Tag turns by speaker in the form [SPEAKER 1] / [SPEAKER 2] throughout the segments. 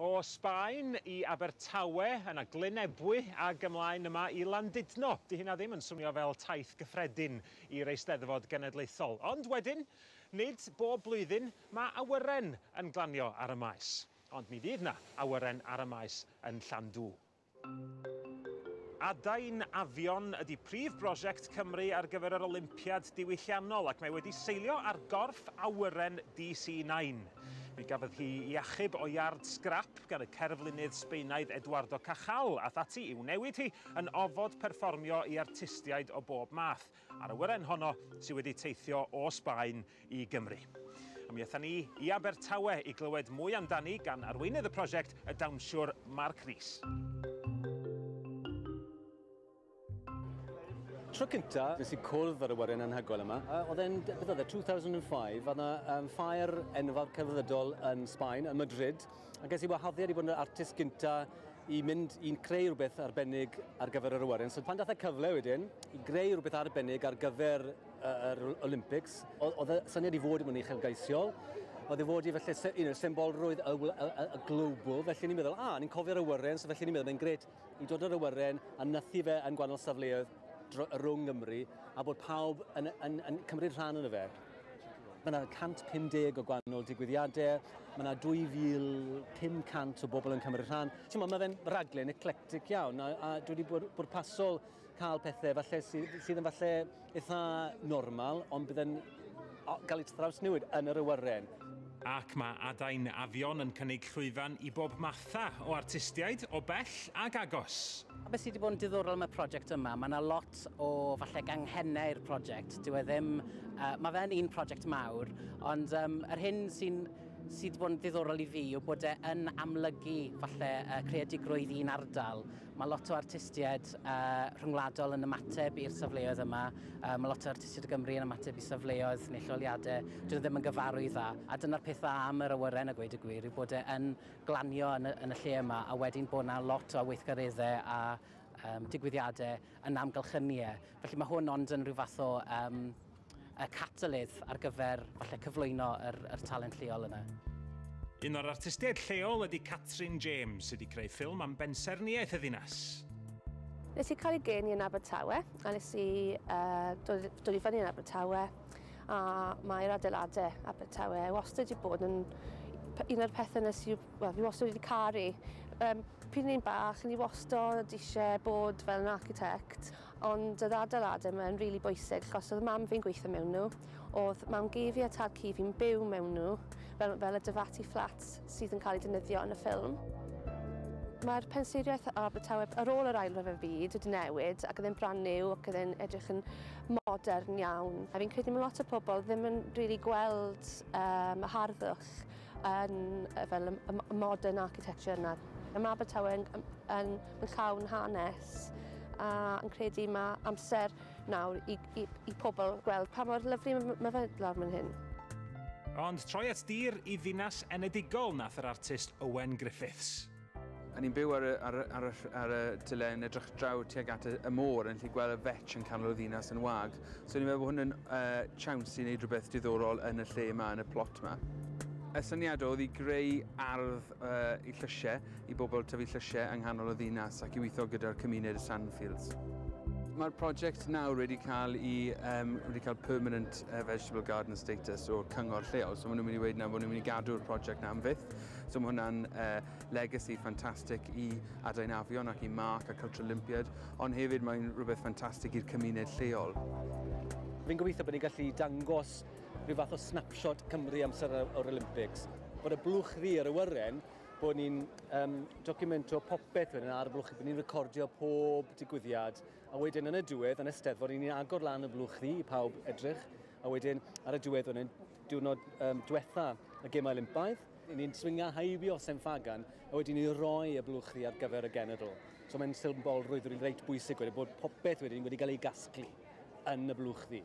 [SPEAKER 1] O Sbaen i Abertawe, yna Glyn Ebwy ag ymlaen yma i Landudno. 'Di hynna ddim yn swnio fel taith gyffredin i'r Eisteddfod Genedlaethol. Ond wedyn, nid bob blwyddyn mae awyren yn glanio ar y Maes. Ond mi fydd 'na awyren ar y Maes yn Llandŵ. Adain Afion ydy prif brosiect Cymru ar gyfer yr Olympiad diwylliannol ac mae wedi seilio ar gorff awyren DC Nine. Mi gafodd hi i achub o iard sgrap gan y cerflunydd Sbaenaidd Eduardo Cajal ath ati i'w newid hi yn ofod perfformio i artistiaid o bob math. A'r awyren honno sydd wedi teithio o Sbaen i Gymru. A mi aethon ni i Abertawe i glywed mwy amdani gan arweinydd y prosiect, y dawnsiwr Mark Rees. Tro cynta, nes i cwrdd ar y wyren anhygoel yma. Oedd e'n, beth oedd e, 2005, oedd yna um, ffair enfawr celfyddydol yn Sbaen, yn Madrid, A ges i wahoddiad i fod yn yr artist gynta i mynd i'n creu rhywbeth arbennig ar gyfer yr awyren. So pan dath y cyfle wedyn i greu rhywbeth arbennig ar gyfer yr Olympics, oedd y syniad i fod yn uchelgeisiol, oedd i fod i felly, you know, symbolrwydd y, y, y, y global, felly ni'n meddwl, a, ah, ni'n cofio'r awyren, so felly ni'n meddwl, mae'n gret, i dod yr awyren a nythu fe yn gwahanol safleoedd rhwng Nghymru a bod pawb yn, yn, yn cymryd rhan yn y fe. Mae yna 150 o gwahanol digwyddiadau, mae yna 2500 o bobl yn cymryd rhan. Ti'n mae fe'n raglen eclectic iawn a, a dwi wedi bod bwrpasol cael pethau falle sydd, sydd yn falle eitha normal, ond bydd yn gael ei trawsnewid yn yr awyren. Ac mae Adain Afion yn cynnig llwyfan i bob matha o artistiaid, o bell ag agos. A beth sydd wedi bod yn diddorol am y prosiect yma, mae yna lot o falle ganghennau i'r prosiect. Dyw e ddim... Uh, mae fe'n un prosiect mawr, ond um, yr hyn sy'n sydd wedi bod yn ddiddorol i fi yw bod e yn amlygu falle uh, creadigrwydd un ardal. Mae lot o artistiaid uh, rhyngwladol yn ymateb i'r safleoedd yma. Uh, mae lot o artistiaid o Gymru yn ymateb i safleoedd neu lleoliadau. Dyn ddim yn gyfarw i dda. A dyna'r peth dda am yr awyren a gweud y gwir yw bod e yn glanio yn y, yn y lle yma a wedyn bod yna lot o weithgareddau a um, digwyddiadau yn amgylchynu e. Felly mae hwn ond yn rhyw fath o um, y catalydd ar gyfer falle cyflwyno yr yr talent lleol yna. Un o'r artistiaid lleol ydy Catrin James, sydd wedi creu ffilm am bensaernïaeth y ddinas. Nes i cael ei geni yn Abertawe, a nes i uh, dod, dod i fyny yn Abertawe, a mae'r adeiladau Abertawe wastad wedi bod yn un o'r pethau nes i, well, fi wastad wedi caru. Um, pryd ni'n bach, ni wastad eisiau bod fel yn architect, Ond oedd adeiladau yma yn rili bwysig achos oedd mam fi'n gweithio mewn nhw, oedd mam gi fi a tad cu fi'n byw mewn nhw, fel fel y Devati Flats sydd yn cael eu defnyddio yn y ffilm. Mae'r penseiriaeth Abertawe ar ôl yr Ail Ryfel Byd wedi newid ac oedd e'n brand new ac oedd e'n edrych yn modern iawn. A fi'n credu mae lot o pobl ddim yn rili gweld yym y harddwch yn fel y modern architecture yna. Mae Abertawe yn yn yn llawn hanes a yn credu mae amser nawr i, i, i pobl gweld pa mor lyflu mae fe lawr fan hyn. Ond troi at dir i ddinas enedigol nath yr artist Owen Griffiths. A ni'n byw ar y, ar, ar, y, ar y tyle yn edrych draw tuag at y, y môr yn lle gweld y fetch yn canol y ddinas yn wag. So ni'n meddwl bod hwn yn uh, chance i wneud rhywbeth diddorol yn y lle yma, yn y plot yma. Y syniad oedd i greu ardd i llysiau, i bobl tyfu llysiau yng nghanol y ddinas ac i weithio gyda'r cymuned y Sandfields. Mae'r prosiect nawr wedi cael i um, wedi cael permanent uh, vegetable garden status o'r cyngor lleol. So maen nhw'n mynd i wedi na bod nhw'n mynd i gadw'r prosiect na am fyth. So mae hwnna'n uh, legacy ffantastig i Adain Afion ac i Mark a Culture Olympiad, ond hefyd mae'n rhywbeth ffantastig i'r cymuned lleol. Fi'n gobeithio bod ni'n gallu dangos rhyw fath o snapshot Cymru amser o'r Olympics, bod y blwch ddu yr awyren, bod ni'n um, documento popeth wedyn ar y blwch, bod ni'n recordio pob digwyddiad, a wedyn yn y diwedd, yn y steddfod, ni'n agor lan y blwch ddu i pawb edrych, a wedyn ar y diwedd wedyn, diwrnod um, diwetha y gemau Olympaidd, ni'n swinga haibio Sen Fagan, a wedyn ni'n rhoi y blwch ddu ar gyfer y genedl. So mae'n sylbol rwydd reit bwysig wedyn bod popeth wedyn wedi cael ei gasglu. yn y blwchdy.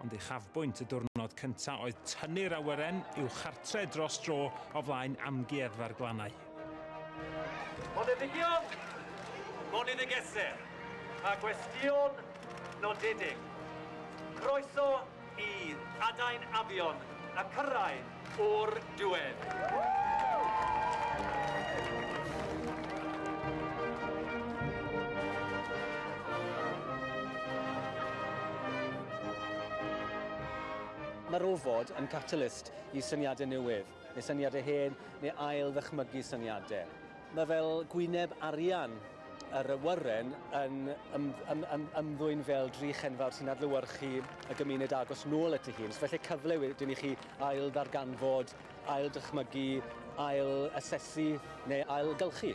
[SPEAKER 1] Ond uchafbwynt y diwrnod cyntaf oedd tynnu'r awyren i'w chartre dros dro o flaen Amgueddfa'r Glannau. Boneddigion, boneddigesau a gwestion nodedig, croeso i adain afion a cyrraedd o'r diwedd. Mae'r ofod yn catalyst i syniadau newydd, Neu syniadau hen, neu ail-ddychmygu syniadau. Mae fel gwyneb arian yr awyren yn ym, ym, ym, ymddwyn fel drych enfawr sy'n adlewyrchu y gymuned agos nôl at ei hun. So felly cyfle wedyn i chi ail-ddarganfod, ail-ddychmygu, ail-asesu neu ail-gylchu.